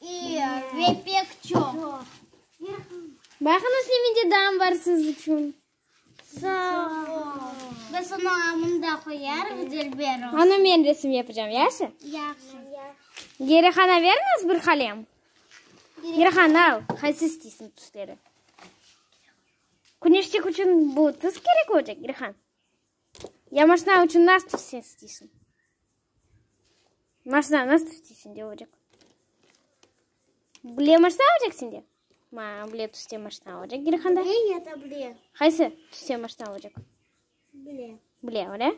İyi ve pek çoq. Baqıñız, ne mende dam bar siz içün. Sağ ol. Biz onı amında qoyarıq, Dilber oğlu. Onı men resim yapacağım, yaşı? Yahşı. Gerihana beriñiz bir qalem. Gerihan, al, qaysı isteysiñ tüsleri? Küneşçik içün bu tüs kerek olacaq, Gerihan? Ya maşna içün nasıl sen isteysiñ? Maşna nasıl isteysiñ dep olacaq. Bile maşna olacaq sende? Ma, bile tüste maşna olacaq Gilhanda. Bile ya da bile. Qaysı tüste maşna olacaq? Bile. Bile, öyle?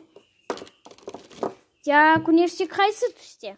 Ya küneşçik qaysı tüste?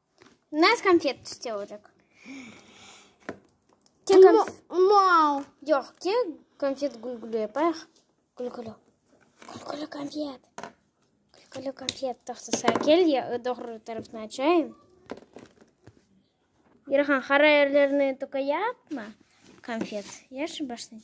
Nasıl konfet tüste olacaq? Mal. Yoq, kel konfet gülgülü yapayıq. Gülgülü. Gülgülü konfet. Gülgülü konfet taxtası kel, doğru tarafını açayım. Yarahan, qara yerlerini toka yapma konfet. Yaxşı, başlayım.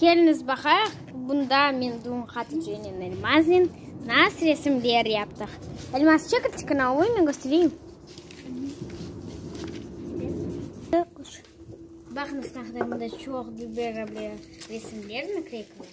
Keliñiz baqayıq, bunda men Dum Hatıcınen Elmaznen nas resimler yaptıq. Elmaz, çekil tikine, oy, men köstereyim. Baqıñız, ne qadar bunda çoq biberabı resimler, nakleykalar.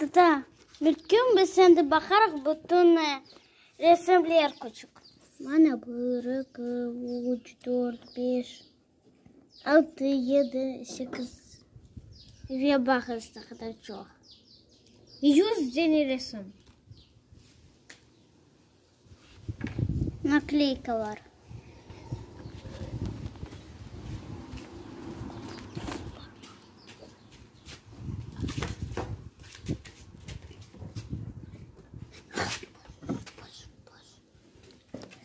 Dada, bir kün biz sendi baqarıq bütün resimler küçük. Mana bir, eki, üç, dört, beş, altı, yedi, sekiz ve baqız ne qadar çoq. Yüz dene resim. Nakleykalar.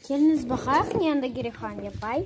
Keliniz baqayıq, ne anda gerek qan yapay.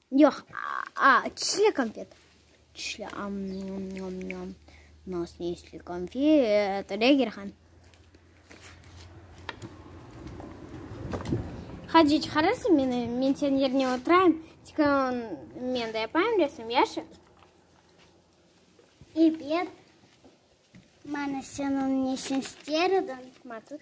Yoq, a, çişli konfet. Çişli, am, nam, nam, nam. Nas ne isli konfet, Regerhan. Hacı, çıqarırsıñ meni, men senin yerine oturayım, tikon men de yapayım resim, yaşa? Ebet, mana sen onı neşün ister ediñ? Matut.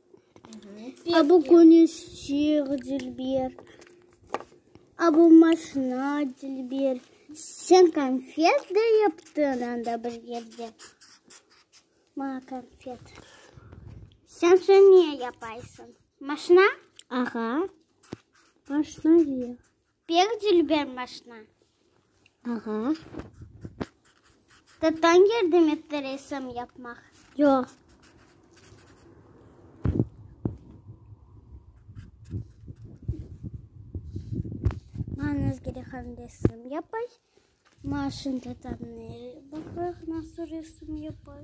A bu köneşçeq, Dilber. A bu maşina, Dilber. Sen konfet de yaptıñ anda bir yerde. Maña konfet. Sen şunı ne yapaysıñ? Maşina? Ağa, maşina ya. Pek dülber maşna. Ağa. Tattañ yardım etti resim yapmaq? Yoq. Mañız gerek ham resim yapay. Maşın tatanı baqaq nasıl resim yapay.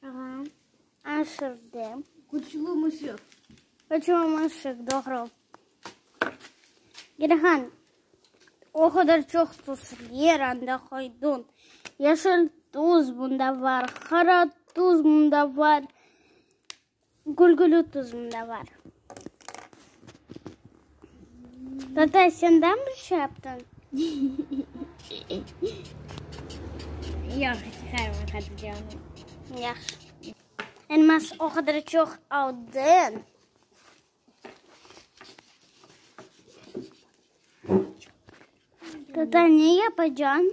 Tamam, aşırdım. Küçlü mışıq. Küçlü mışıq, doğru. Gelihan, o qadar çoq tuz yer anda qoyduñ. Yeşil tuz bunda bar, qara tuz bunda bar. Gülgülü tuzum da bar. Tata, sen de mi bir şey yaptın? Yoq, çıqarmay Hatice'ni. Yahşı. Elmas o qadar çoq aldın. Tata, ne yapacan?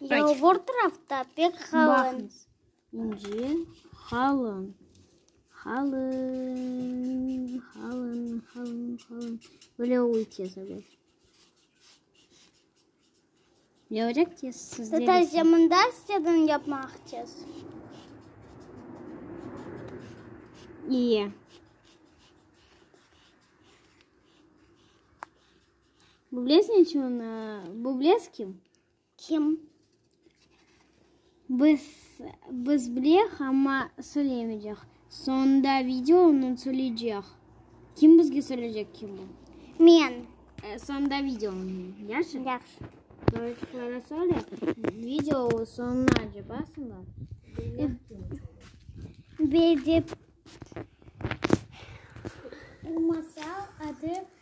Yalvur tırafta pek qalın. İnce qalın. Qalın, qalın, qalın, qalın. Böyle oğuy tez oluy. Ne olacaq tez? Siz de Tata, sen mında istedin yapmaq tez. İyi. Bublez ne içün? Bublez kim? Kim? Biz, biz bileyik, amma söyleyemeycek. Soñunda video onı söyleycek. Kim bizge söyleycek kim bu? Men. Soñunda video onı, yahşı? Yahşı. Doğruçukları söyle. Video soñuna acı basınlar. Bedep. Masal adı.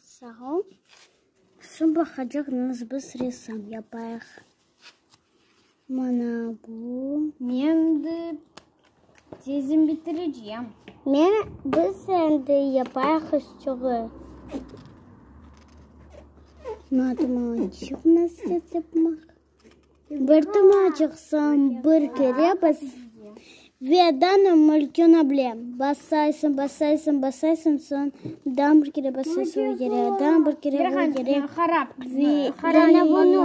Sağ ol. Şu baqacaqnıñız biz ressam yapayıq. Mana bu. Men de tezim bitireceğim. Men biz endi yapayıq üstüge. Matematik nasıl yapmaq? Bir tuma çıqsam, bir kere bas, ve dana mülküna bile basaysıñ, basaysıñ, basaysıñ, soñ dana bir kere basaysıñ, o kere, dana bir kere, o kere, ve dana bunı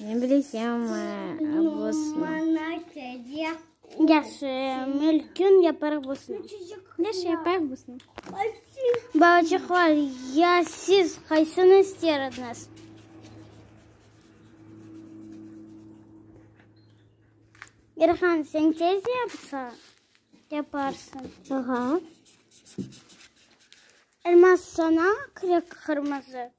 Men bilesem, bosna. Yaşı, mülkün yaparıq bosna. Yaşı, yaparıq bosna. Balaçaqlar, ya siz qaysını ister ediñiz? İrhan, sen tez yapsa, yaparsın. Aha. Elmas, sana kirek qırmızı.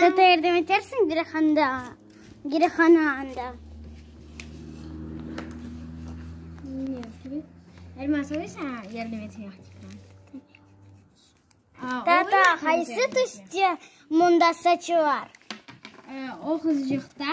Tata, yardım etersiñ girehanda, girehana anda? Elmas oy saña yardım etmeye qıtıqlandı. Tata, qaysı tüste munda saçı bar? O qızcıqta.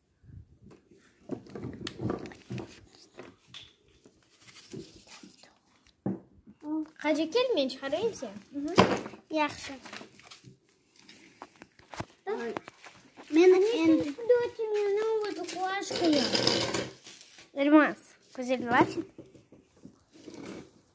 Hacı kel, men çıqarayım sen. Yahşı. Men endi... Dörtü meni oldu kuaşkaya. Elmas, güzel var.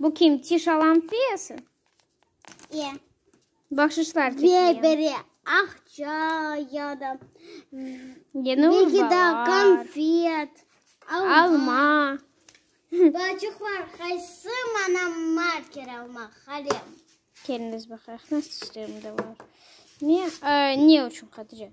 Bu kim? Tiş alam fiyası? E. Bahşışlar Ve çekiyen. biri akça ya da Yeni belki de urbalar. konfet, alma. Alma. Bacıqlar, qaysı mana marker almaq, qalem? Keliniz baqaq, nasıl işlerim de var. Ne, e, ne üçün Hatice?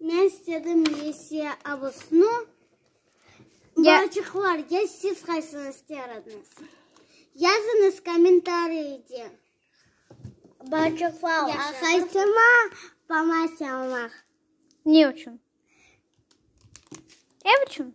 Men istedim Lisiya Abusnu, Balçıqlarga siz qaysını ister ediñiz? Yazıñız kommentariyde. Balçıqlarğa qaysını pamasiya almaq? Ne içün? Ev içün?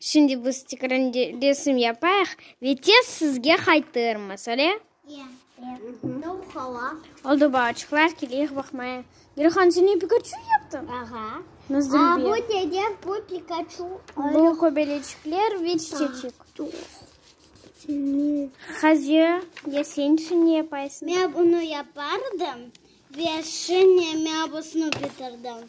Şimdi biz tekrar resim yapayıq ve tez sizge qaytırmız, öyle? Oldu, balaçıqlar, keleyik baqmaya. Gülhan, sen ne, Pikaçu yaptıñ? Bu dede, bu Pikaçu. Bu köbeleçikler ve çiçeçik. Hazir ya sen üçün ne yapaysıñ? Men bunu yapardım ve şimdi men busını bitirdim.